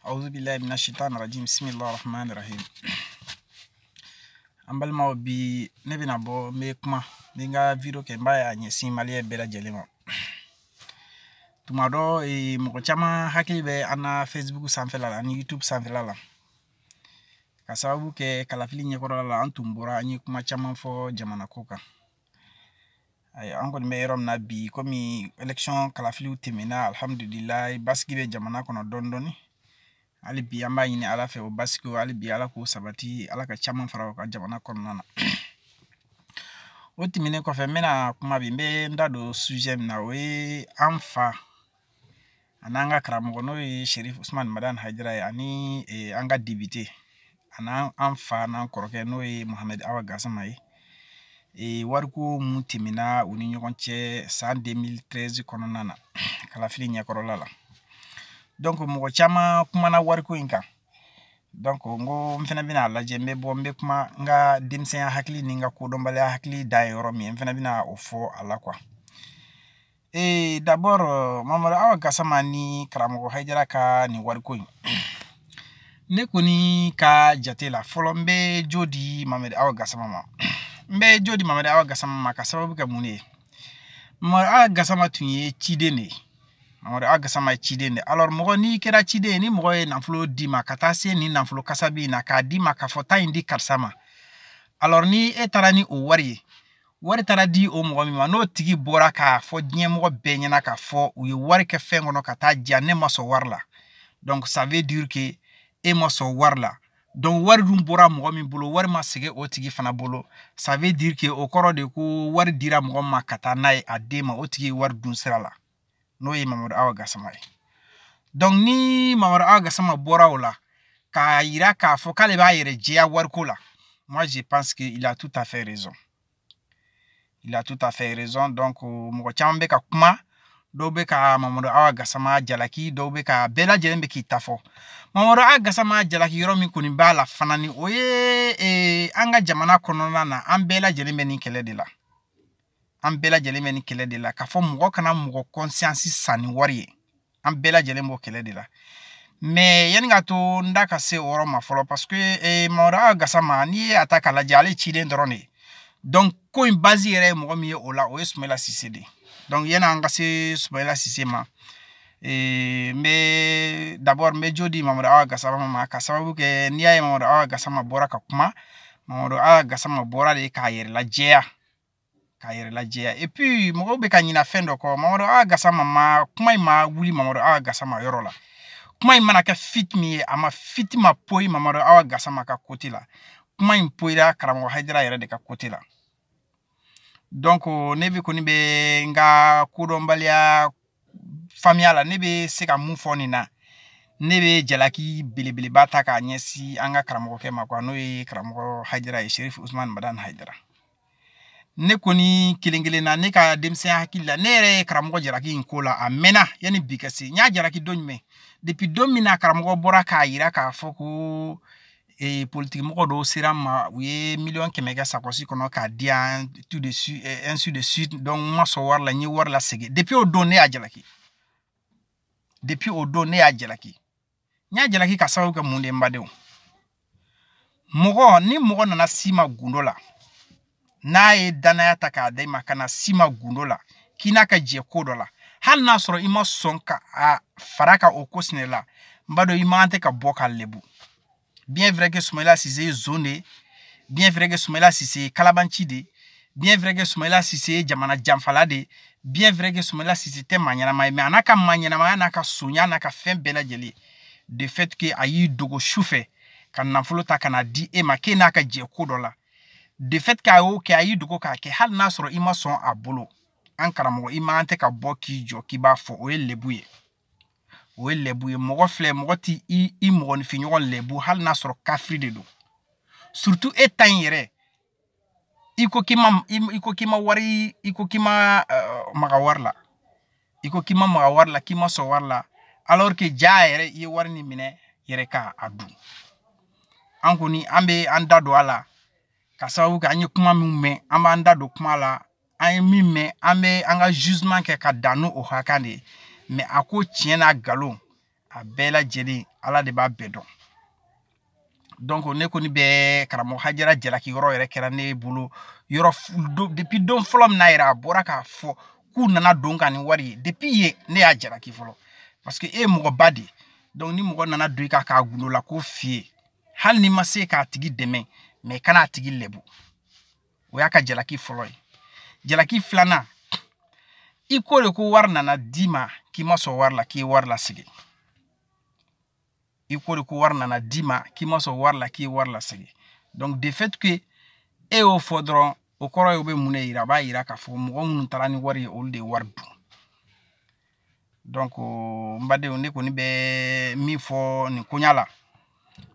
awuzu bilayi mina sitan rajim bisimilahi rahman rahim an balimaw bi ne bɛna bɔ n bɛ kuma n bɛ n ka video kɛ n b'a a ɲɛsin maliyɛn bɛɛ lajɛlen ma tuma dɔ eh, mɔgɔ caman hakili bɛ an na facebook sanfɛla la ani youtube sanfɛla la ka sababu kɛ kalafili ɲɛkɔrɔla la an tun bɔra an ye kuma caman fɔ jamana ko kan ayiwa an kɔni bɛ yɔrɔ min na bi komi election kalafiliw tɛmɛna alihamudulilayi basigi bɛ jamana kɔnɔ dɔɔni dɔɔni hali bi an b'a ɲini ala fɛ o basigi hali bi ala k'o sabati ala ka caman fara o kan jamana kɔnɔna na o tɛmɛnen kɔfɛ n bɛna kuma bi n bɛ n da don sujet min na o ye an fa a n'an ka karamɔgɔ n'o ye sherif usman madan hayidara ye ani e, an ka depite an'an an fa n'an kɔrɔkɛ n'o ye mohamed awa gasama ye e, wariko min tɛmɛna u ni ɲɔgɔn cɛ san 2013 kɔnɔna na kalafili ɲɛkɔrɔla la donc mɔgɔ caman kumana wariko in kan donc n ko n fana bɛna a lajɛ n bɛ bɔ n bɛ kuma n ka denmisɛnya hakili ni n ka kodɔnbaliya hakili dan ye yɔrɔ min ye n fana bɛna o fɔ a la quoi ee d'abord mamadu awa gasama ni karamɔgɔ hayidara ka nin wariko in ne kɔni ka jate la fɔlɔ n bɛ jo di mamadu awa gasama ma n bɛ jo di mamadu awa gasama ma ka sababu kɛ mun de ye mamadu awa gasama tun ye ciden de ye mamadu awa gasama ye ciden de ye alors mɔgɔ n'i kɛra ciden ye ni mɔgɔ ye nafolo d'i ma ka taa se nin nafolo kasabi in na k'a d'i ma k'a fɔ taa in di karisa ma alors ni e taara ni o wari ye wari taara di o mɔgɔ min ma n'o tigi bɔra k'a fɔ diɲɛmɔgɔ bɛɛ ɲɛna k'a fɔ u ye wari kɛ fɛn kɔnɔ ka taa diya ne ma sɔn wari la donc ça veut dire que e ma sɔn wari la donc wari dun bɔra mɔgɔ min bolo wari ma segin o tigi fana bolo ça veut dire que o kɔrɔ de ko wari dira mɔgɔ ma ka taa n'a ye a den ma o tigi ye wari dun sira la n'o ye mamadu awa gasama ye donc ni mamadu awa gasama bɔra o la k'a yira k'a fɔ k'ale b'a yɛrɛ jɛya wariko la moi je pense que il a tout à fait raison il a tout à fait raison donc euh, mɔgɔ caman bɛ ka kuma dɔw bɛ ka mamadu awa gasama jalaki dɔw bɛ ka bɛɛ lajɛlen bɛ k'i ta fɔ mamadu awa gasama jalaki yɔrɔ min kɔni b'a la fana ni o ye eh, an ka jamana kɔnɔna na an bɛɛ lajɛlen bɛ nin kɛlɛ de la an bɛɛ lajɛlen bɛ nin kɛlɛ de la k'a fɔ mɔgɔ kana mɔgɔ conscience san ni wari ye an bɛɛ lajɛlen b'o kɛlɛ de la mais yanni ka to n da ka se o yɔrɔ ma fɔlɔ parce que eh, mamadu awa gasama n'i ye a ta k'a lajɛ ale ciden dɔrɔn de ye donc ko in base yɛrɛ ye mɔgɔ min ye o la o ye sumayila sise de ye donc yanni an ka se sumayila sise ma eh, n bɛ d'abord n bɛ jo di mamadu awa gasama ma ka sababu kɛ n'i y'a ye mamadu awa gasama bɔra ka kuma mamadu awa gasama bɔra de k'a yɛrɛ lajɛya k'a yɛrɛ lajɛya et puis mɔgɔw bɛ ka ɲina fɛn dɔ kɔ mamadu awa gasama ma kuma in ma wuli mamadu awa gasama yɔrɔ la kuma in mana kɛ fitinɛ min ye a ma fitinɛ ma poyi mamadu awa gasama ka côté la kuma in poyira karamɔgɔ hayidara yɛrɛ de ka côté la donc ne bɛ kɔni bɛ n ka kodɔnbaliya faamuya la ne bɛ se ka mun fɔ nin na ne bɛ jalaki belebeleba ta k'a ɲɛsin an ka karamɔgɔkɛ ma quoi n'o ye karamɔgɔ hayidara ye sherif usman madani hayidara ne kɔni kelen kelen na ne ka denmisɛnya hakili la ne yɛrɛ ye karamɔgɔ jalaki in ko la a mɛnna yanni bi ka se n y'a jalaki don jumɛn depuis don min na karamɔgɔ bɔra k'a yira k'a fɔ ko ee politikimɔgɔ dɔw sera a ma u ye miliyɔn kɛmɛ kɛ sakɔsi kɔnɔ k'a di yan tout de suite ainsi de suite donc n ma sɔn wari la n ye wari lasegin depuis o don ne y'a jalaki depuis o don ne y'a jalaki n y'a jalaki ka sababu kɛ mun de ye n badenw mɔgɔ ni mɔgɔ nana s'i ma gundo la n'a ye dannaya ta k'a da i ma ka na s'i ma gundo la k'i n'a ka jɛ ko dɔ la hali n'a sɔrɔ i ma sɔn ka fara a kan o ko sinɛ la n b'a dɔn i man tɛ ka bɔ k'a lebu bien vrai que sumayila sise ye zon de ye bien vrai que sumayila sise ye kalabanci de ye bien vrai que sumayila sise ye jamana janfala de ye bien vrai que sumayila sise tɛ maa ɲɛnama ye mais a n'a ka maa ɲɛnamaya n'a ka sonya n'a ka fɛn bɛɛ lajɛlen de fait que a y'i dogo su fɛ ka nafolo ta ka n'a di e ma k'e n'a ka jɛ ko dɔ la de fait que a y'o kɛ a y'i dogo k'a kɛ hali n'a sɔrɔ i ma sɔn a bolo an karamɔgɔ i man tɛ ka bɔ k'i jɔ k'i b'a fɔ o ye lebu ye o ye lebu ye mɔgɔ filɛ mɔgɔ t'i i i mɔgɔninfinɲɔgɔn lebu hali n'a sɔrɔ kafiri de don surtout e ta in yɛrɛ i ko k'i ma i ko k'i ma wari i ko k'i ma uh, maga wari la i ko k'i ma maga wari la k'i ma sɔn wari la alors que jaa yɛrɛ i ye wari nin minɛ yɛrɛ ka a dun an kɔni an bɛ an da don a la ka sababu kɛ an ye kuma min mɛn an b'an da don kuma la an ye min mɛn an bɛ an ka jugement kɛ ka dan n'o o hakɛ de ye mais a ko tiɲɛ n'a nkalon a bɛɛ lajɛlen ala de b'a bɛɛ dɔn donc ne kɔni bɛ karamɔgɔ hayidara jalaki yɔrɔ yɛrɛ kɛra ne bolo yɔrɔ depuis don fɔlɔ min na yɛrɛ a bɔra k'a fɔ k'u nana don a kan ni wari ye depuis yen ne y'a jalaki fɔlɔ parce que e ye mɔgɔba de ye donc ni mɔgɔ nana don i kan k'a gundo la ko f'i ye hali n'i ma se k'a tigi dɛmɛ mais i kana a tigi lebu o y'a ka jalaki fɔlɔ ye jalaki filanan i ko de ko wari nana d'i ma k'i ma sɔn wari la k'i ye wari lasegin i ko de ko wari nana d'i ma k'i ma sɔn wari la k'i ye wari lasegin donc de fait que e y'o fɔ dɔrɔn o kɔrɔ ye o bɛ mun de yira a b'a yira k'a fɔ mɔgɔ minnu taara ni wari ye olu de ye wari dun donc n badenw ne kɔni bɛ min fɔ nin koɲa la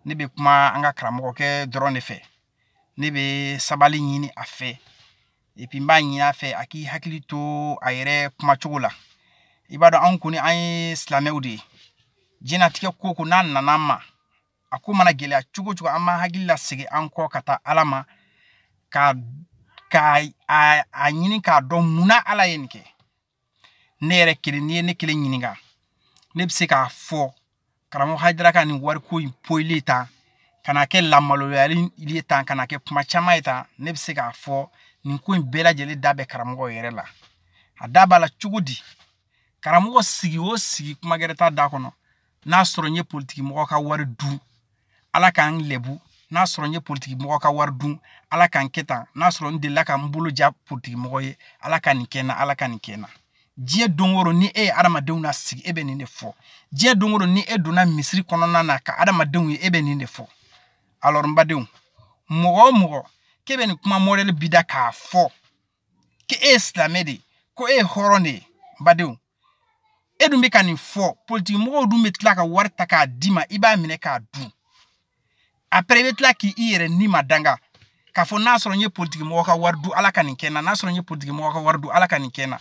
ne bɛ kuma an ka karamɔgɔkɛ dɔrɔn de fɛ ne bɛ sabali ɲini a fɛ et puis n b'a ɲini a fɛ a k'i hakili to a yɛrɛ kumacogo la i b'a dɔn anw kɔni an ye silamɛw de ye diɲɛnatigɛ ko ko n'a nana an ma a ko mana gɛlɛya cogo cogo an b'an hakili lasegin an kɔ ka taa ala ma k'a ɲini k'a dɔn munna ala ye nin kɛ ne yɛrɛ kelen n'i ye ne kelen ɲininka ne bɛ se k'a fɔ karamɔgɔ hajara ka nin wariko in poyili tan ka na kɛ lamaloyali ye tan ka na kɛ kuma caman ye tan ne bɛ se k'a fɔ nin ko in bɛɛ lajɛlen da bɛ karamɔgɔ yɛrɛ la a da b'a la cogo di karamɔgɔ sigi o sigi kuma gɛrɛ t'a da kɔnɔ n'a sɔrɔ n ye politikimɔgɔ ka wari dun ala ka n lɛbu n'a sɔrɔ n ye politikimɔgɔ ka wari dun ala ka n kɛ tan n'a sɔrɔ n delila ka n bolo ja politikimɔgɔ ye ala ka nin kɛ n na ala ka nin kɛ n na diɲɛ don o don ni e ye adamadenw na sigi e bɛ nin de fɔ diɲɛ don o don ni e donna misiri kɔnɔna na ka adamadenw ye e bɛ nin de fɔ alors n badenw mɔgɔ o mɔgɔ k'e bɛ nin kuma modèle b'i da k'a fɔ k'e ye silamɛ de ye ko e ye hɔrɔn de ye n badenw e dun bɛ ka nin fɔ politikimɔgɔw dun bɛ tila ka wari ta k'a d'i ma i b'a minɛ k'a dun après i bɛ tila k'i yɛrɛ ni ma danga k'a fɔ n'a sɔrɔ n ye politikimɔgɔ ka wari dun ala ka nin kɛ n na n'a sɔrɔ n ye politikimɔgɔ ka wari dun ala ka nin kɛ n na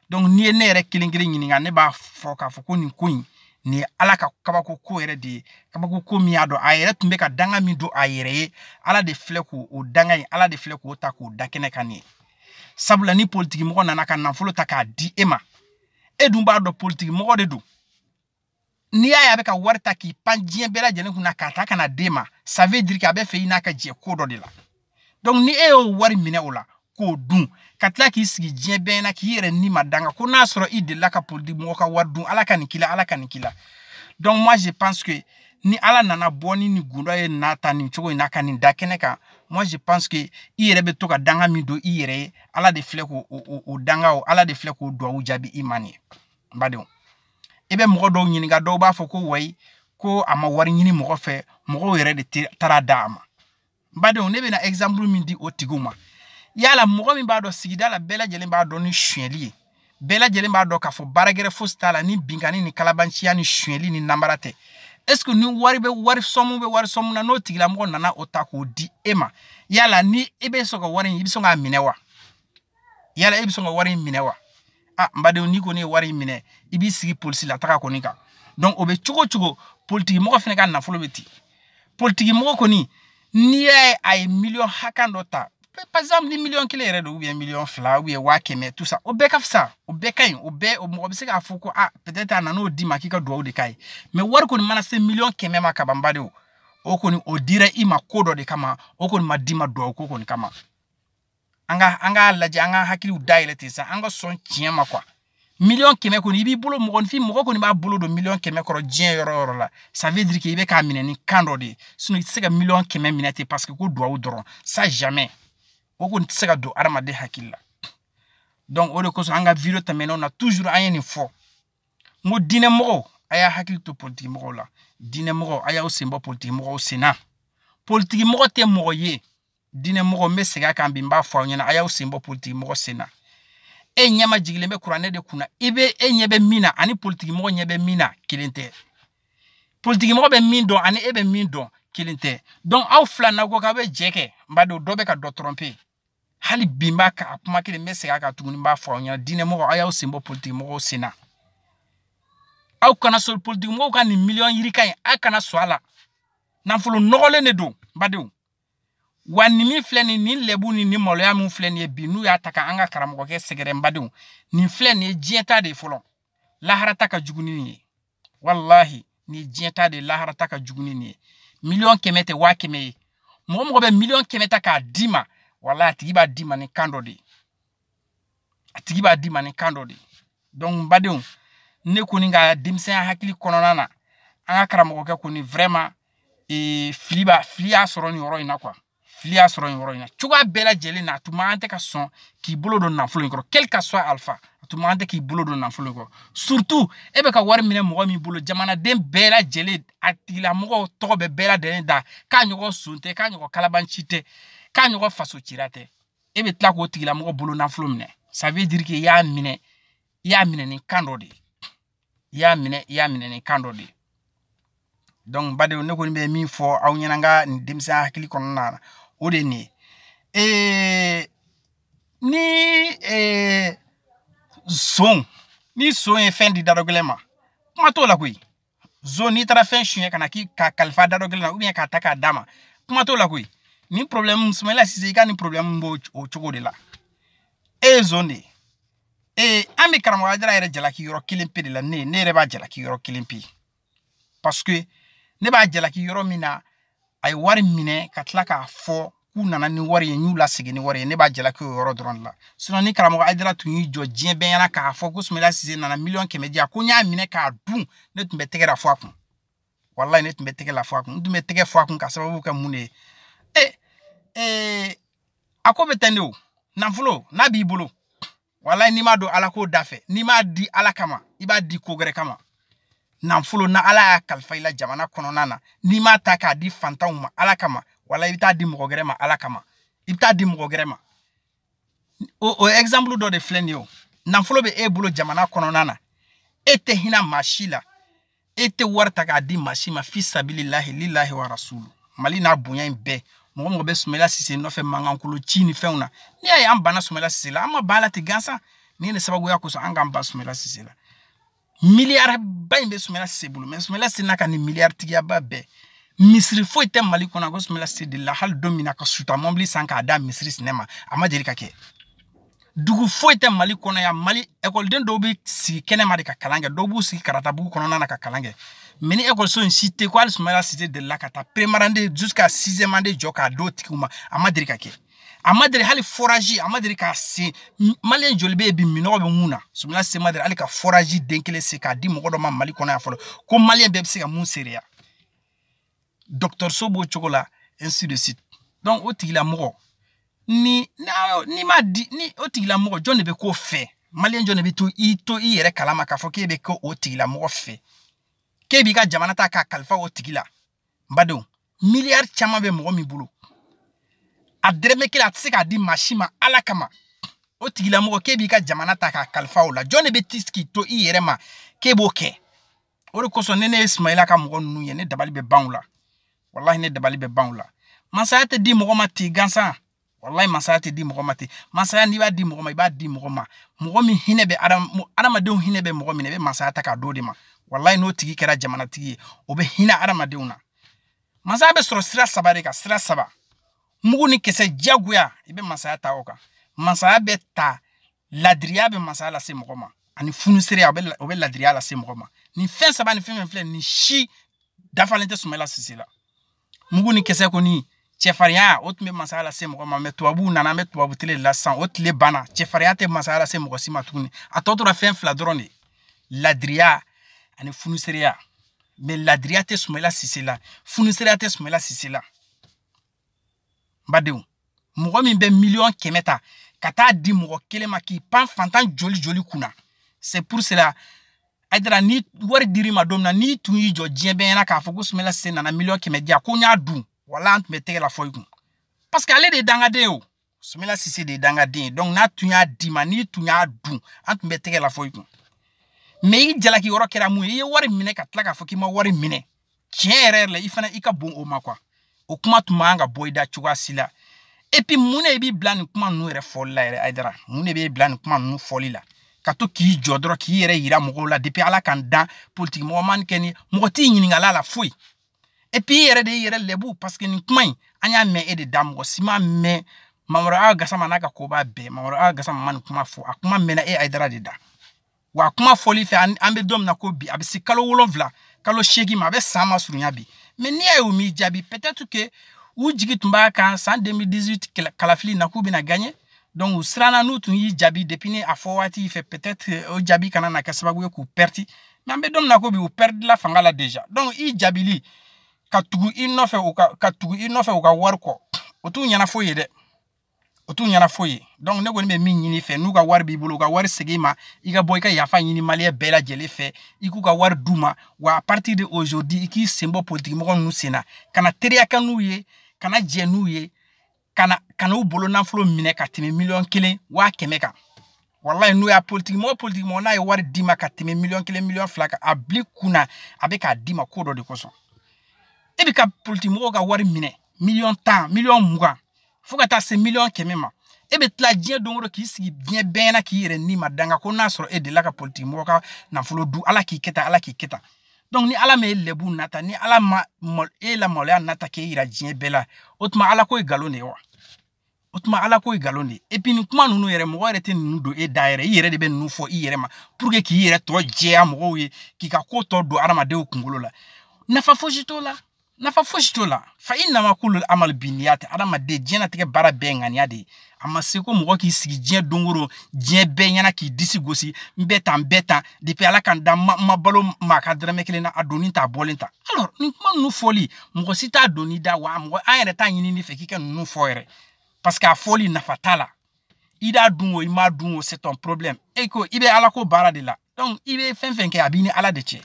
donc n'i ye ne yɛrɛ kelen kelen ɲininka ne b'a fɔ k'a fɔ ko nin ko in nin ye ala ka kabako ko yɛrɛ de ye kabako ko min y'a dɔn a yɛrɛ tun bɛ ka danga min don a yɛrɛ ye ala de filɛ k'o o danga in ala de filɛ k'o ta k'o da kɛnɛ kan nin ye sabula ni politikimɔgɔ nana ka nafolo ta k'a di e ma e dun b'a dɔn politikimɔgɔ de don n'i y'a ye a bɛ ka wari ta k'i pan diɲɛ bɛɛ lajɛlen kunna k'a ta ka na d'e ma ça veut dire que a bɛ fɛ i n'a ka jɛ ko dɔ de la donc ni e y'o wari minɛ o la k'o dun ka tila k'i sigi diɲɛ bɛɛ na k'i yɛrɛ ni ma danga ko n'a sɔrɔ i delila ka politiki mɔgɔ ka wari dun ala ka nin k'i la ala ka nin k'i la donc moi je pense que ni ala nana bɔ ni nin gundo ye n'a ta nin cogo in na ka nin da kɛnɛ kan moi je pense que i yɛrɛ bɛ to ka danga min don i yɛrɛ ye ala de filɛ k'o o o danga o ala de filɛ k'o duwawu jaabi i ma nin ye n badenw i bɛ mɔgɔ dɔw ɲininka dɔw b'a fɔ ko wayi ko a ma wari ɲini mɔgɔ fɛ mɔgɔw yɛrɛ de taara d'a ma n badenw ne bɛna exemple min di o tigiw ma yala mɔgɔ min b'a dɔn sigida la bɛɛ lajɛlen b'a dɔn ni suyɛli ye bɛɛ lajɛlen b'a dɔn k'a fɔ baara gɛrɛ fosi t'a la ni binkani ni kalabanciya ni suyɛli ni namara tɛ est ce que ni wari bɛ wari sɔmu bɛ wari sɔmu na n'o tigilamɔgɔ nana o ta k'o di e ma yala ni e bɛ sɔn ka wari in i bɛ sɔn k'a minɛ wa yala e bɛ sɔn ka wari in minɛ wa a n badenw n'i kɔni ye wari in minɛ i b'i sigi polisi la taga kɔni kan donc o bɛ cogo cogo politikimɔgɔ fana ka nafolo bɛ ten politikimɔgɔ kɔni n'i y'a ye a ye miliyɔn hakɛ dɔ ta par exemple ni miliyɔn kelen yɛrɛ don ou bien miliyɔn fila ou bien waa kɛmɛ tout ça o bɛɛ ka fisa o bɛɛ ka ɲi o bɛɛ o mɔgɔ bɛ se k'a fɔ ko a peut-être a nan'o d'i ma k'i ka duwawu de k'a ye mais wari kɔni mana se miliyɔn kɛmɛ ma kaban badenw o kɔni o dira i ma ko dɔ de kama o kɔni ma d'i ma duwawu ko kɔni kama an ka an k'a lajɛ an ka hakiliw dayɛlɛ ten sa an ka sɔn tiɲɛ ma quoi miliyɔn kɛmɛ kɔni i b'i bolo mɔgɔninfin mɔgɔ kɔni b'a bolo don miliyɔn kɛmɛ kɔrɔ diɲɛ yɔrɔ yɔrɔ la ça veut dire que i bɛ k'a minɛ ni kan dɔ de ye sinon i tɛ se ka miliyɔn kɛmɛ minɛ ten parce que ko duwawu dɔrɔn ça jamais o kɔni tɛ se ka don adamaden hakili la donc o de kosɔn an ka video tɛmɛnenw na toujours an ye nin fɔ n ko diinɛ mɔgɔw a y'a hakili to politiki mɔgɔw la diinɛ mɔgɔw a y'aw sen bɔ politiki mɔgɔw sen na politiki mɔgɔ tɛ mɔgɔ ye diinɛ mɔgɔ n bɛ segin a kan bi n b'a fɔ aw ɲɛna a y'aw sen bɔ politiki mɔgɔ sen na e ɲɛmajigilen bɛ kuranɛ de kunna i bɛ e ɲɛ bɛ min na ani politiki mɔgɔ ɲɛ bɛ min na kelen tɛ politiki mɔgɔ bɛ min dɔn ani e bɛ min dɔn kelen tɛ donc aw fila na ko k'aw bɛ jɛ kɛ n b'a dɔn dɔ bɛ ka dɔ tromper hali bi n b'a ka kuma kelen n bɛ segin a kan tuguni n b'a fɔ aw ɲɛna diinɛ mɔgɔ aw y'aw sen bɔ politiki mɔgɔw sen na aw kana sɔn politiki mɔgɔw ka nin miliyɔn yirika in aw kana sɔn a la nafolo nɔgɔlen de don n badenw wa nin min filɛ nin nin lɛbu ni nin maloya min filɛ nin ye bi n'u y'a ta ka an ka karamɔgɔkɛ sɛgɛrɛ n badenw nin filɛ nin ye diɲɛ ta de ye fɔlɔ lahara ta ka jugu ni nin ye walahi nin ye diɲɛ ta de ye lahara ta ka jugu ni nin ye miliyɔn kɛmɛ tɛ waa kɛmɛ ye mɔgɔ mɔgɔ bɛ miliyɔn kɛmɛ ta k'a d'i ma walahi a tigi b'a d'i ma ni kan dɔ de ye a tigi b'a d'i ma ni kan dɔ de ye donc badenw ne kɔni ka denmisɛnya hakili kɔnɔna na an ka karamɔgɔkɛ kɔni vraiment ee fili b'a fili y'a sɔrɔ nin yɔrɔ in na quoi fili y'a sɔrɔ nin yɔrɔ in na cogoya bɛɛ lajɛlen na a tun man tɛ ka sɔn k'i bolo don nafolo in kɔrɔ quel que soit alpha a tun man tɛ k'i bolo don nafolo in kɔrɔ surtout e bɛ ka wari minɛ mɔgɔ min bolo jamanaden bɛɛ lajɛlen a tigilamɔgɔw tɔgɔ bɛ bɛɛ lajɛlen da k'a ɲɔgɔn son tɛ k'a ɲɔgɔn kalabanci tɛ k'a ɲɔgɔn faso cira tɛ e bɛ tila k'o tigilamɔgɔ bolo nafolo minɛ ça veut dire que i y'a minɛ i y'a minɛ ni kan dɔ de ye i y'a minɛ i y'a minɛ ni kan dɔ de ye donc badenw ne kɔni bɛ min fɔ aw ɲɛna n ka nin denmisɛnya hakili kɔnɔna na o de ye nin ye ee ni ee zon ni zon ye fɛn di dadɔgɛlɛn ma kuma t'o la koyi zon n'i taara fɛn suɲɛ ka na k'a kalifa dadɔgɛlɛn na ou bien k'a ta k'a d'a ma kuma t'o la koyi nin problème sumayila sise i ka nin problème b'o o cogo de la e ye zon de ye ee an bɛ karamɔgɔ ayidara yɛrɛ jalaki yɔrɔ kelen pe de la ne ne yɛrɛ b'a jalaki yɔrɔ kelen pe parce que ne b'a jalaki yɔrɔ min na a ye wari minɛ ka tila k'a fɔ k'u nana ni wari ye n y'u lasegin ni wari ye ne b'a jalaki o yɔrɔ dɔrɔn de la sinɔn ni karamɔgɔ ayidara tun y'i jɔ diɲɛ bɛɛ ɲɛna k'a fɔ ko sumela sise nana miliyɔn kɛmɛ di yan ko n y'a minɛ k'a dun ne tun bɛ tɛgɛrɛ fɔ a kun walayi ne tun bɛ tɛgɛrɛ fɔ a kun n tun bɛ tɛgɛ fɔ a kun ka sababu kɛ mun de ye ee ee a ko bɛ ten de o nafolo n'a b'i bolo walayi n'i m'a don ala ko da fɛ n'i m'a di ala kama i b'a di ko gɛrɛ kama nanfolo na ala y'a kalifa i la jamana kɔnɔna na n'i m'a ta k'a di fantanw ma ala kama walayi i bɛ t'a di mɔgɔ gɛrɛ ma ala kama i bɛ t'a di mɔgɔ gɛrɛ ma o o exemple dɔ de filɛ nin ye o nafolo bɛ e bolo jamana kɔnɔna na e tɛ hinɛ maa si la e tɛ wari ta k'a di maa si ma fi sabililahi lilahi wa rasulu mali n'a bonya in bɛɛ mɔgɔ mɔgɔ bɛ sumela sise nɔfɛ mankankolo ci ni fɛnw na n'i y'a ye an banna sumela sise la an ma ban a la ten gansan nin ne sababuya kosɔn an k'an ban sumela sise la miliyariba in bɛ sumela sise bolo mɛ sumela sise n'a ka nin miliyaritigiyaba bɛɛ misiri foyi tɛ mali kɔnɔ ko sumela sise delila hali don min na ka suta mɔbili san k'a da misiri sinɛ ma a ma deli ka kɛ dugu foyi tɛ mali kɔnɔ yan mali ekɔliden dɔw bɛ sigi kɛnɛma de ka kalan kɛ dɔw b'u sigi karatabugu kɔnɔna na ka kalan kɛ mɛ nin ekɔliso in si tɛ ko hali sumayala sise delila ka taa première année jusqu'à sixième année jɔ k'a d'o tigiw ma a ma deli ka kɛ a ma deli hali foraji a ma deli k'a sen maliyɛn joli bɛ yen bi minnɔgɔ bɛ mun na sumayala sise ma deli hali ka foraji den kelen sen k'a di mɔgɔ dɔ ma mali kɔnɔ yan fɔlɔ ko maliyɛn bɛɛ bɛ se ka mun seereya dɔgɔtɔrɔso b'o cogo la ainsi de suite donc o tigilamɔgɔ ni n'i m'a di ni o tigilamɔgɔ jɔn de bɛ k'o fɛ maliyɛn jɔn de bɛ to i to i yɛrɛ kalama k'a fɔ k'e bɛ kɛ o tigilamɔgɔ fɛ k'e b'i ka jamana ta k'a kalifa o tigi la n badenw miliyari caman bɛ mɔgɔ min bolo a dɛrɛmɛ kelen a tɛ se k'a di maa si ma ala kama o tigilamɔgɔ k'e b'i ka jamana ta k'a kalifa o la jɔn de bɛ t'i sigi k'i to i yɛrɛ ma k'e b'o kɛ o de kosɔn ni ne ye sumayila ka mɔgɔ ninnu ye ne dabali bɛ ban u la walahi ne dabali bɛ ban u la masaya tɛ di mɔgɔ ma ten gansan walayi masaya tɛ di mɔgɔ ma ten masaya n'i b'a di mɔgɔ ma i b'a di mɔgɔ ma mɔgɔ min hinɛ bɛ adamadenw hinɛ bɛ mɔgɔ min na i bɛ masaya ta k'a d'o de ma walayi n'o tigi kɛra jamanatigi ye o bɛ hinɛ adamadenw na masaya bɛ sɔrɔ sira saba de kan sira saba mugu ni kisɛ jagoya i bɛ masaya ta o kan masaya bɛ ta ladiriya bɛ masaya lase mɔgɔ ma ani funusereya o bɛ ladiriya lase mɔgɔ ma nin fɛn saba ni fɛn fɛn fila nin si dafalen tɛ sumala sise la mugu ni kisɛ kɔni cɛfarinya o tun bɛ masaya lase mɔgɔ ma mɛ tubabuw nana an bɛ tubabu tile la sisan o tile banna cɛfarinya tɛ masaya lase mɔgɔ si ma tuguni a tɔ tora fɛn fila dɔrɔn de ladiriya ani funusereya mais ladiriya tɛ Soumaïla Cissé la funusireya tɛ Soumaïla Cissé la n badenw mɔgɔ min bɛ miliyɔn kɛmɛ ta ka taa di mɔgɔ kelen ma k'i pan fantan joli joli kunna c'est pour cela Haidara ni wari dir'i ma don min na n'i tun y'i jɔ diɲɛ bɛɛ ɲɛna k'a fɔ ko Soumaïla Cissé nana miliyɔn kɛmɛ di yan ko n y'a dun wala an tun bɛ tɛgɛrɛ fɔ i kun parce que ale de ye dangaden ye o Soumaïla Cissé de ye dangaden ye donc n'a tun y'a d'i ma n'i tun y'a dun an tun bɛ tɛgɛrɛ fɔ i kun mais i jalaki yɔrɔ kɛra mun ye i ye wari minɛ ka tila k'a fɔ k'i ma wari minɛ tiɲɛ yɛrɛ yɛrɛ la i fana i ka bon o ma quoi o kuma tun man kan ka bɔ i da cogoya si la et puis mun de b'i bila nin kuma ninnu yɛrɛ fɔli la yɛrɛ Haidara mun de b'e bila nin kuma ninnu fɔli la ka to k'i jɔ dɔrɔn k'i yɛrɛ yira mɔgɔw la depuis ala ka n dan politikimɔgɔ man kɛ ni mɔgɔ t'i ɲininkal'a la foyi et puis i yɛrɛ de y'i yɛrɛ lɛbu parce que nin kuma in an y'a mɛn e de da mɔgɔ si m'a mɛn Mamadou Hawa Gassama n'a ka koba bɛɛ Mamadou Hawa Gassama ma nin kuma fɔ a kuma mɛnna e Haidara de da wa kuma fɔli fɛ an bɛ don min na ko bi a bɛ se kalo wolonwula kalo seegin ma a bɛ san masurunya bi mais n'i y'a ye u m'i jaabi peut-être que u jigi tun b'a kan san 2018 kalafili na k'u bɛna gagner donc u siranna n'u tun y'i jaabi depuis ni a fɔ waati fɛ peut-être o jaabi kana na kɛ sababu ye k'u pɛridi mais an bɛ don min na ko bi u pɛridila fanga la déjà donc i jaabili ka tugu i nɔfɛ u ka ka tugu i nɔfɛ u ka wari kɔ o t'u ɲɛna foyi ye dɛ o t'u ɲɛna foyi ye donc ne kɔni bɛ min ɲini i fɛ n'u ka wari b'i bolo u ka wari segin u ma i ka bɔ i ka yafa ɲini maliyɛn bɛɛ lajɛlen fɛ i k'u ka wari d'u ma wa à partir de aujourd'hui i k'i sen bɔ politikimɔgɔ ninnu sen na kana teriya kɛ n'u ye kana jɛ n'u ye kan'u bolo nafolo minɛ ka tɛmɛ miliyɔn kelen waa kɛmɛ kan walayi n'u y'a politiki mɔgɔ politiki mɔgɔ n'a ye wari d'i ma ka tɛmɛ miliyɔn kelen miliyɔn fila kan a bɛ di kun na a bɛ k'a d'i ma ko dɔ de kosɔn e bɛ ka politiki mɔgɔw ka wari minɛ miliyɔn tan miliyɔn mugan fo ka taa se miliyɔn kɛmɛ ma e bɛ tila diɲɛ don o don k'i sigi diɲɛ bɛɛ ɲɛna k'i yɛrɛ ni ma danga ko n'a sɔrɔ e delila ka politiki mɔgɔ ka nafolo dun ala k'i kɛ tan ala k'i kɛ tan donc ni ala ma e lɛbu nata ni ala ma e lamaloya nata k'e yira diɲɛ bɛɛ la o tuma ala ko ye nkalon de ye wa o tuma ala ko ye nkalon de ye et puis nin kuma ninnu yɛrɛ mɔgɔ yɛrɛ tɛ ninnu don e da yɛrɛ i yɛrɛ de bɛ ninnu fɔ i yɛrɛ ma pour que k'i yɛrɛ tɔgɔ jɛya mɔgɔw ye k'i ka ko tɔ don adamadenw kunkolo la nafa fosi t'o la nafa fosi t'o la fa innama kullul amal binniyati adamaden diɲɛnatigɛ baara bɛɛ ŋaniya de ye a ma se ko mɔgɔ k'i sigi diɲɛ dongoro diɲɛ bɛɛ ɲɛna k'i disi gosi n bɛ tan n bɛ tan depuis ala ka n da n ma balo maa ka dɔrɔmɛ kelen na a donni t'a bɔlen ta alors nin kuma ninnu fɔli mɔgɔ si t'a donn'i da wa mɔgɔ an yɛrɛ t'a ɲinin'i fɛ k'i ka ninnu fɔ yɛrɛ parce que a fɔli nafa t'a la i d'a dun o i m'a dun o c'est ton problème e ko i bɛ ala ko baara de la donc i bɛ fɛn fɛn kɛ a b'i ni ala de cɛ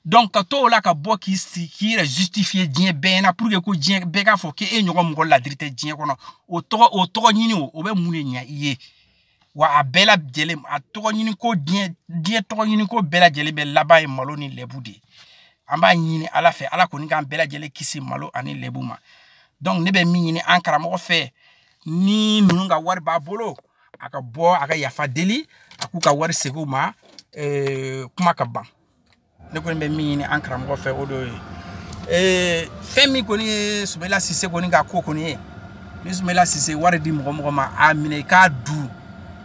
donc ka to o la ka bɔ k'i sigi k'i yɛrɛ justifier diɲɛ bɛɛ na pour que ko diɲɛ bɛɛ k'a fɔ k'e ɲɔgɔn mɔgɔ ladiri tɛ diɲɛ kɔnɔ o tɔgɔ o tɔgɔ ɲini o o bɛ mun de ɲɛ i ye wa a bɛɛ lajɛlen a tɔgɔ ɲini ko diɲɛ diɲɛ tɔgɔ ɲini ko bɛɛ lajɛlen bɛ laban ye malo ni lɛbu de ye an b'a ɲini ala fɛ ala kɔni k'an bɛɛ lajɛlen kisi malo ani lɛbu ma donc ne bɛ min ɲini an karamɔgɔ fɛ ni ninnu ka wari b'a bolo a ka bɔ a ka yafa deli a k'u ka wari segin u ma eh, kuma ka ban ne kɔni bɛ min ɲini an karamɔgɔ fɛ o do ye eh, fɛn min kɔni ye sumela sise kɔni ka ko kɔni ye ni sumela sise wari di mɔgɔ o mɔgɔ ma a minɛ i k'a dun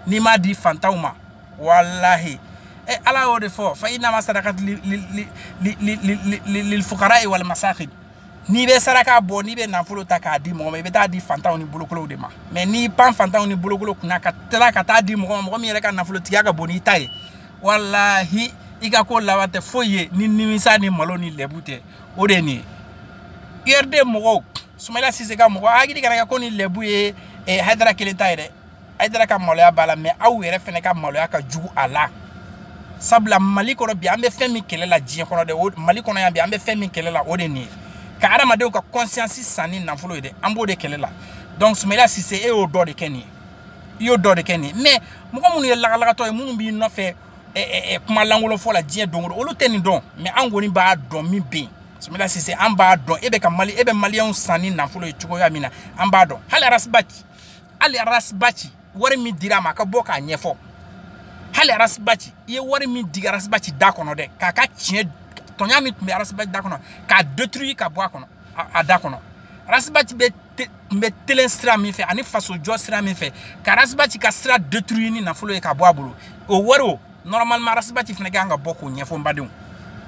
n'i m'a di fantanw ma walahi e ala y'o de fɔ fa inama sadakatu lilfukarayi wali masakin n'i bɛ saraka bɔ n'i bɛ nafolo ta k'a di mɔgɔ ma i bɛ taa di fantanw ni bolokolow de ma mais n'i pan fantanw ni bolokolow kunna ka tila ka taa di mɔgɔ ma mɔgɔ min yɛrɛ ka nafolotigiya ka bon n'i ta ye walahi i ka ko laban tɛ foyi ye ni nimisa ni malo ni lɛbu tɛ o de ye nin ye urd mɔgɔw sumayila sise ka mɔgɔw aw hakili kana kɛ ko nin lɛbu ye eh, hayidara kelen ta ye dɛ hayidara ka maloya b'a la mais aw yɛrɛ fɛnɛ ka maloya ka jugu a la sabula mali kɔnɔ bi an bɛ fɛn min kɛlɛ la diɲɛ kɔnɔ dɛ mali kɔnɔ yan bi an bɛ fɛn min kɛlɛ la o de nin ye ka adamadenw ka conscience san ni nafolo ye dɛ an b'o de kɛlɛ la donc sumela sise e y'o dɔ de kɛ nin ye i y'o dɔ de kɛ nin ye mais mɔgɔ minnu ye lagalagatɔ ye minnu b'i nɔfɛ kuma lankolon fɔ la diɲɛ don o don olu tɛ nin dɔn mais an kɔni b'a dɔn min bɛ yen sumela sise an b'a dɔn e bɛ ka mali e bɛ maliyɛnw san ni nafolo ye cogoya min na an b'a dɔn hali arasibati hali arasibaci wari min dira a ma a ka bɔ k'a ɲɛfɔ hali arasibaci i ye wari min digi arasibaci da kɔnɔ dɛ k'a ka tiɲɛ tɔɲa min tun bɛ arasibaci da kɔnɔ k'a detruyi ka bɔ a kɔnɔ a da kɔnɔ arasibaci bɛ tun bɛ telen sira min fɛ ani fasojɔ sira min fɛ ka arasibaci ka sira detruyi ni nafolo ye ka bɔ a bolo o wari o normalement arasibaci fana ka kan ka bɔ k'o ɲɛfɔ n badenw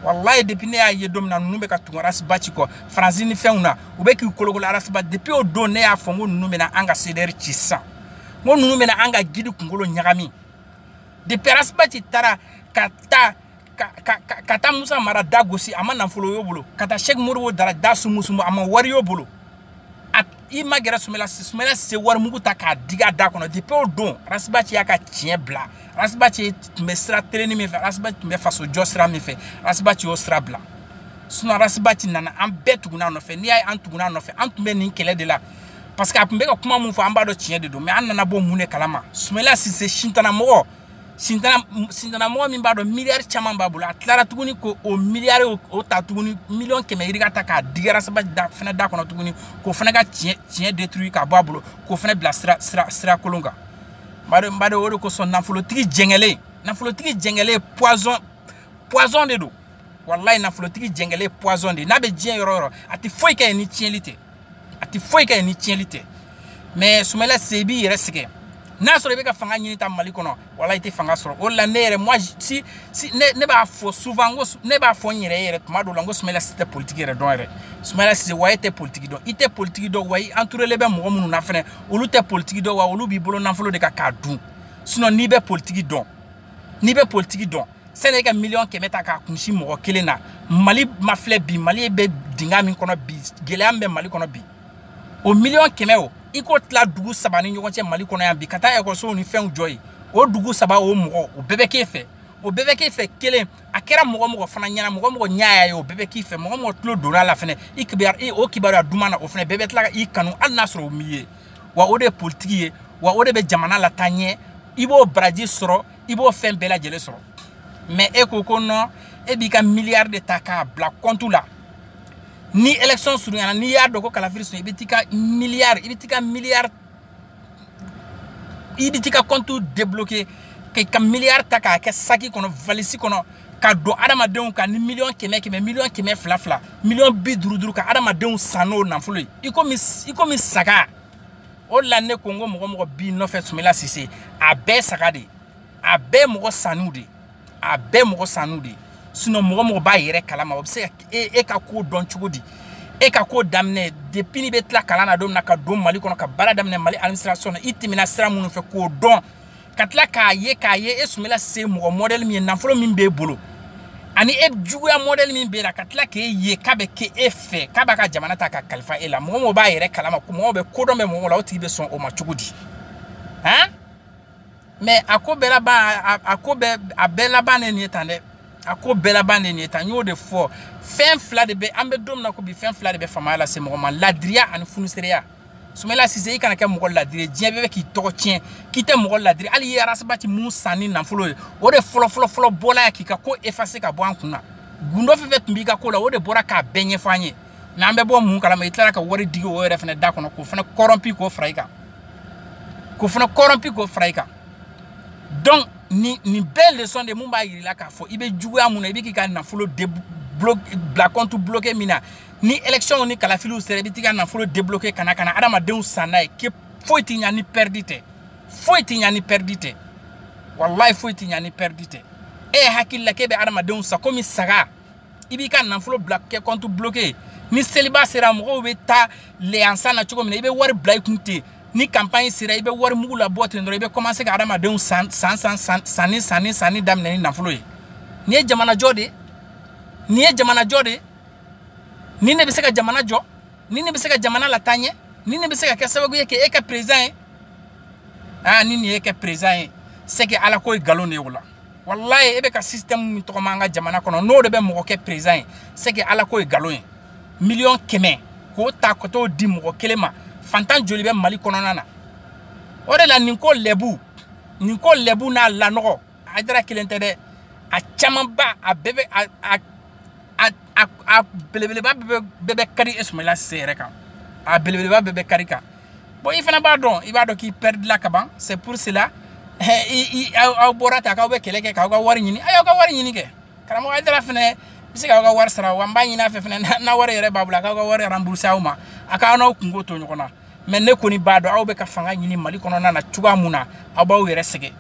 walayi depuis ne y'a ye don min na ninnu bɛ ka tugu arasibaci kɔ faransi ni fɛnw na u bɛ k'u kolokolo arasibaci depuis o don ne y'a fɔ n ko ninnu bɛna an ka cdr ci sisan n ko ninnu bɛna an ka gidi kunkolo ɲagami depuis arasibaci taara ka taa ka ka ka ka taa musa mara da gosi a ma nafolo y'o bolo ka taa sɛki modibo jara da sumusumu a ma wari y'o bolo i magɛrɛ sumela sumela sise warimugu ta k'a digi a da kɔnɔ depuis o don arasibaci y'a ka tiɲɛ bila arasibaci tun bɛ sira telenni min fɛ arasibaci tun bɛ fasojɔ sira min fɛ arasibaci y'o sira bila sinon arasibaci nana an bɛɛ tugunna a nɔfɛ n'i y'a ye an tugunna a nɔfɛ an tun bɛ nin kɛlɛ de la parce que a tun bɛ ka kuma min fɔ an b'a dɔn tiɲɛ de don mais an nana bɔ mun de kalama sumela sise sitanɛ mɔgɔ sintanamɔgɔ min b'a dɔn miliyari caman b'a bolo a tilara tuguni ko o miliyari o ta tuguni miliyɔn kɛmɛ yirika ta k'a digi ras bath fɛnɛ da kɔnɔ tuguni k'o fɛnɛ ka tiɲɛ tiɲɛ détruit k'a bɔ a bolo k'o fɛnɛ bila sira sira sira kolon kan bado bado o de kosɔn nafolotigi jɛngɛlen nafolotigi jɛngɛlen poison poison de don walayi nafolotigi jɛngɛlen poison de n'a bɛ diɲɛ yɔrɔ yɔrɔ a tɛ foyi kɛ yen ni tiɲɛli tɛ a tɛ foyi kɛ ni tiɲɛli tɛ mais sumala sise b'i yɛrɛ sɛgɛn n'a sɔrɔ i bɛ ka fanga ɲini ta mali kɔnɔ wala i tɛ fanga sɔrɔ o la ne yɛrɛ moi si si ne ne b'a fɔ souvent ko ne b'a fɔ n yɛrɛ yɛrɛ tuma dɔw la n ko sumala sise tɛ politiki yɛrɛ dɔn yɛrɛ sumala sise wa e tɛ politiki dɔn i tɛ politiki dɔn wa i entourelen bɛ mɔgɔ minnu na fɛnɛ olu tɛ politiki dɔn wa olu b'i bolo nafolo de kan k'a dun sinon n'i bɛ politiki dɔn n'i bɛ politiki dɔn sani e ka miliyɔn kɛmɛ ta k'a kunsi mɔgɔ kelen na mali mafilɛ bi mali bɛ dinga min kɔnɔ bi gɛlɛya min bɛ mali kɔnɔ bi o miliyɔn kɛmɛ o i k'o tila dugu saba ni ɲɔgɔn cɛ mali kɔnɔ yan bi ka taa ekɔlisow ni fɛnw jɔ yen o dugu saba o mɔgɔ o bɛɛ bɛ k'e fɛ o bɛɛ bɛ k'e fɛ kelen a kɛra mɔgɔ mɔgɔ fana ɲɛna mɔgɔ mɔgɔ ɲɛ y'a ye o bɛɛ bɛ k'i fɛ mɔgɔ mɔgɔ tulo donna a la fɛnɛ i kibaruya o kibaruya duman na o fɛnɛ bɛɛ bɛ tila ka i kanu hali n'a sɔrɔ o m'i ye wa o de ye politiki ye wa o de bɛ jamana lataa ɲɛ i b'o baraji sɔrɔ i b'o fɛn bɛɛ lajɛlen sɔrɔ mais e ko ko non e b'i ka miliyari de ta k'a bila kɔntu la ni élection surunyana n'i y'a dɔn ko kalafiri sun i bɛ t'i ka miliyari i bɛ t'i ka miliyari i bɛ t'i ka kɔntu débloqué k'i ka miliyari ta k'a kɛ saki kɔnɔ valisi kɔnɔ ka don adamadenw kan ni miliyɔn kɛmɛ kɛmɛ miliyɔn kɛmɛ fila fila miliyɔn bi duuru duuru ka adamadenw san n'o nafolo ye i komi i komi saga o la ne ko n ko mɔgɔ mɔgɔ b'i nɔfɛ sumela sise a bɛɛ saga de a bɛɛ mɔgɔ sannenw de a bɛɛ mɔgɔ sannenw de sinon mɔgɔ mɔgɔ b'a yɛrɛ kalama o bɛ se ka e, e ka ko dɔn cogo di e ka ko daminɛ depuis n'i bɛ tila kalan na don min na ka don mali kɔnɔ ka baara daminɛ mali administration na i tɛmɛna sira minnu fɛ k'o dɔn ka tila k'a ye k'a ye e sumela sise mɔgɔ mɔdɛli min ye nafolo min b'e bolo ani e juguya mɔdɛli min b'e la ka tila k'e ye k'a bɛ kɛ e fɛ k'a b'a ka jamana ta k'a kalifa e la mɔgɔ mɔgɔ b'a yɛrɛ kalama mɔgɔ bɛ kodɔn bɛ mɔgɔ la o tigi bɛ sɔn o ma cogo di han mais a ko bɛɛ laban a ko bɛɛ a bɛɛ laban ne nin ye tan dɛ a ko bɛɛ laban de nin ye tan n y'o de fɔ fɛn fila de bɛ an bɛ don min na ko bi fɛn fila de bɛ faamaya lase mɔgɔ ma ladiriya ani funusereya sumela sise i kana kɛ mɔgɔ ladiri diɲɛ bɛɛ bɛ k'i tɔgɔ tiɲɛ k'i tɛ mɔgɔ ladiri hali i ye ras bath mun san ni nafolo ye o de fɔlɔfɔlɔfɔlɔ bɔla ya k'i ka ko effacé ka bɔ an kun na gundo fɛn fɛn tun b'i ka ko la o de bɔra k'a bɛɛ ɲɛfɔ an ye mais an bɛ bɔ mun kalama i tilara ka wari digi o yɛrɛ fana da kɔnɔ k'o fana kɔrɔnpi k'o fara i kan k'o fana kɔrɔnpi k'o fara i kan donc nin nin bɛɛ leçon de mun b'a yir'i la k'a fɔ i bɛ juguya mun na i bɛ k'i ka nafolo de bila compte bloqué min na ni élection ni kalafiliw sera i bɛ t'i ka nafolo débloquer ka na ka na adamadenw san n'a ye ke foyi t'i ɲa ni pɛridi tɛ foyi t'i ɲa ni pɛridi tɛ walayi foyi t'i ɲa ni pɛridi tɛ e ye hakili la k'e bɛ adamadenw san komi saga i b'i ka nafolo bila kɛ kɔntu bloqué ni seliba sera mɔgɔw bɛ taa leyansan na cogo min na i bɛ wari bila i kun ten ni campagne sera i bɛ wari mugu labɔ ten dɔrɔn i bɛ commencer ka adamadenw san san san san sanni sanni sanni daminɛ ni nafolo ye nin ye jamanajɔ de ye nin ye jamanajɔ de ye nin de bɛ se ka jamana jɔ nin de bɛ se ka jamana lataa ɲɛ nin de bɛ se ka kɛ sababu ye k'e kɛ peresidan ye aa ni nin y'e kɛ peresidan ye c'est que ala ko ye nkalon de ye o la walayi e bɛ ka système min tɔgɔma an ka jamana kɔnɔ n'o de bɛ mɔgɔ kɛ peresidan ye c'est que ala ko ye nkalon ye miliyɔn kɛmɛ k'o ta ka t'o di mɔgɔ kelen ma fantan joli bɛ mali kɔnɔna na o de la nin ko lɛbu nin ko lɛbu n'a lanɔgɔ Aidara kelen tɛ dɛ a camanba a bɛɛ bɛ a a a a a belebeleba bɛɛ bɛ bɛɛ bɛ kari e Sumayila Sise yɛrɛ kan a belebeleba bɛɛ bɛ kari i kan bon i fana b'a dɔn i b'a dɔn k'i perdre la kaban c'est pour cela i i aw bɔra ta k'aw bɛ kɛlɛ kɛ k'aw ka wari ɲini a y'aw ka wari ɲini kɛ karamɔgɔ Aidara fɛnɛ bɛ se k'aw ka wari sara wa n b'a ɲini a fɛ fana n'a wari yɛrɛ b'a bolo a k'aw ka wari rembourser aw ma a k'aw n'aw kunko to ɲɔgɔn na. mɛ ne kɔni b'a dɔn aw bɛ ka fanga ɲini mali kɔnɔna na cogoya mun na aw b'aw yɛrɛ sɛgɛn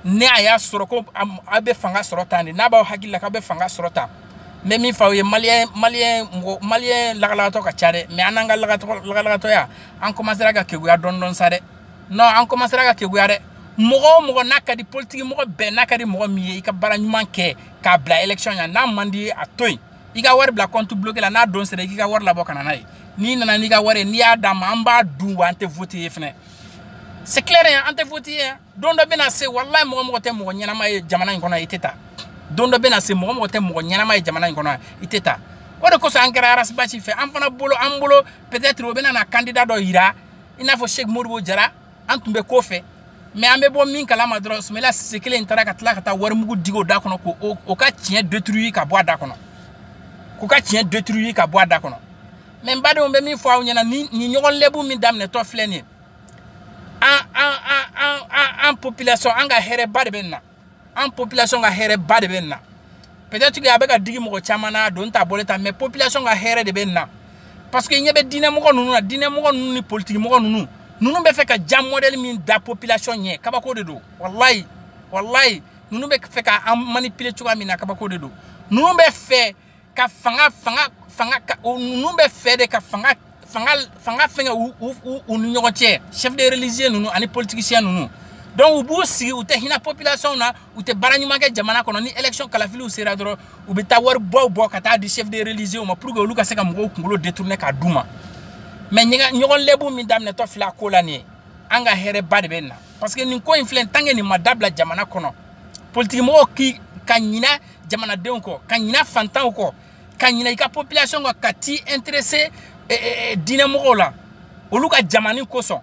ni a y'a sɔrɔ ko aw bɛ fanga sɔrɔ tan de n'a b'aw hakili la k'aw bɛ fanga sɔrɔ tan n bɛ min fɔ aw ye maliyɛn maliyɛn mɔgɔ maliyɛn lagalagatɔ ka ca dɛ mɛ an n'an ka lagalagatɔya an kɔmansera ka keguya dɔɔni dɔɔni sa dɛ non an kɔmansera ka keguya dɛ mɔgɔ o mɔgɔ n'a ka di politiki mɔgɔ bɛɛ n'a ka di mɔgɔ min ye i ka baara ɲuman kɛ k'a bila élection ɲɛ n'a man d'i ye a to yen i ka wari bila kɔntu bloke la n'a don sera i k'i ka wari labɔ ka na n'a ye n'i nana n'i ka wari ye n'i y'a d'an ma an b'a dun wa an tɛ vote i ye fɛnɛ c'est clair yan an tɛ vote i ye yan don dɔ bɛna se walayi mɔgɔ mɔgɔ tɛ mɔgɔ ɲɛnama ye jamana in kɔnɔ i tɛ ta don dɔ bɛna se mɔgɔ mɔgɔ tɛ mɔgɔ ɲɛnama ye jamana in kɔnɔ i tɛ ta o de kosɔn an kɛra Ras Bath fɛ an fana bolo an bolo peut-être o bɛna na candidat dɔ yira i n'a fɔ cheick modibo jara an tun bɛ kɔ fɛ mɛ an bɛ bɔ min kalama dɔrɔn sumayila sise kelen in taara ka tila ka taa warimugu digi o da kɔnɔ ko o ka tiɲɛ detruyi ka bɔ a da kɔnɔ k'u ka tiɲɛ detruyi ka bɔ a da kɔnɔ mɛ n badenw n bɛ min fɔ aw ɲɛna nin ɲɔgɔn lɛbu min daminɛtɔ filɛ nin ye an an an an an population an ka hɛrɛba de bɛ nin na an population ka hɛrɛba de bɛ nin na peut-être que a bɛ ka digi mɔgɔ caman na a don t'a bɔlen ta mais population ka hɛrɛ de bɛ nin na parce que n ɲɛ bɛ diinɛmɔgɔ ninnu na diinɛmɔgɔ ninnu ni politikimɔgɔ ninnu ninnu bɛ fɛ ka ja modèle min da population ɲɛ kabako de don walayi walayi ninnu bɛ fɛ ka an manipuler cogoya min na kabako de don ninnu bɛ fɛ ka fanga fanga fanga o ninnu b'a fɛ de ka fanga fanga fanga fɛngɛ u u u ni ɲɔgɔn cɛ chef de religieux ninnu ani politiciens ninnu donc u b'u sigi u tɛ hinɛ population na u tɛ baara ɲuman kɛ jamana kɔnɔ ni élection kalafiliw sera dɔrɔn u bɛ taa waribaw bɔ ka taa di chef de religieux ma pour que olu ka se ka mɔgɔw kunkolo détourner k'a d'u ma mais ɲɔgɔn lɛbu min daminɛtɔ filɛ a ko la nin ye an ka hɛrɛba de bɛ nin na parce que nin ko in filɛ tant que nin ma dabila jamana kɔnɔ politikimɔgɔw k'i ka ɲinɛ jamanadenw kɔ ka ɲina fantanw kɔ ka ɲina i ka population kɔ ka t'i intéresser eh, eh, eh, diinɛmɔgɔw la olu ka jamani kosɔn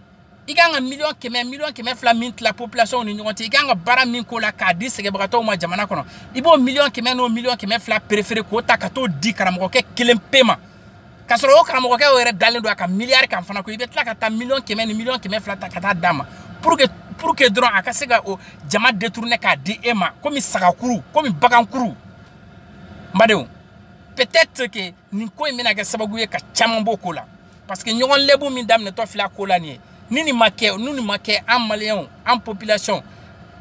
i kan ka miliyɔn kɛmɛ miliyɔn kɛmɛ fila min tila population ni ɲɔgɔn cɛ i kan ka baara min k'o la k'a di sɛgɛbagatɔw ma jamana kɔnɔ i b'o miliyɔn kɛmɛ n'o miliyɔn kɛmɛ fila préférer k'o ta ka t'o di karamɔgɔkɛ kelen pe ma ka sɔrɔ o karamɔgɔkɛ o yɛrɛ dalen don a ka miliyari kan fana ko i bɛ tila ka taa miliyɔn kɛmɛ ni miliyɔn kɛmɛ fila ta ka taa d'a ma pour que pour que dɔrɔn a ka se ka o jama détourner k'a di e ma komi sagakuru komi bagankuru n badenw peut-être que nin ko in bɛna kɛ sababu ye ka caman b'o ko la parce que ɲɔgɔn lɛbu min daminɛtɔ filɛ a ko la nin ye ni nin ma kɛ ni nin ma kɛ an maliyɛnw an population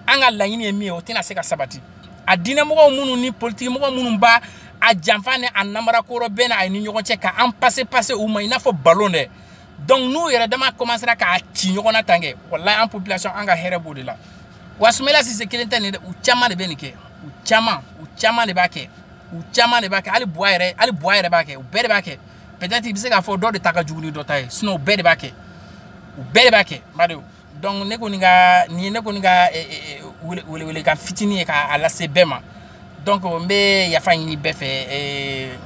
an ka laɲini ye min ye o tɛna se ka sabati a diinɛmɔgɔw minnu ni politikimɔgɔ minnu b'a a janfa ni a namarako rɔbɛn a ni ɲɔgɔn cɛ ka an pase pase u ma i n'a fɔ balon dɛ donc n'u yɛrɛ dama commencera k'a ci ɲɔgɔn na tan kɛ walayi an population an ka hɛrɛ b'o de la wa sumayila sise kelen tɛ nin dɛ u caman de bɛ nin kɛ u caman u caman de b'a kɛ u caman de b'a kɛ hali buwa yɛrɛ hali buwa yɛrɛ b'a kɛ u bɛɛ de b'a kɛ peut-être i bɛ se k'a fɔ dɔ de ta ka jugu ni dɔ ta ye sinon u bɛɛ de b'a kɛ u bɛɛ de b'a kɛ n badenw donc ne kɔni ka nin ye ne kɔni ka welewelekan fitinin ye k'a lase bɛɛ ma donc n bɛ yafa ɲini bɛɛ fɛ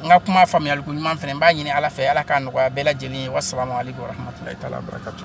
n ka kuma faamuyaliko ɲuman fana n b'a ɲini ala fɛ ala k'a nɔgɔya bɛɛ lajɛlen ye wasalamu aleykum warahmatulahi taala wabarakatu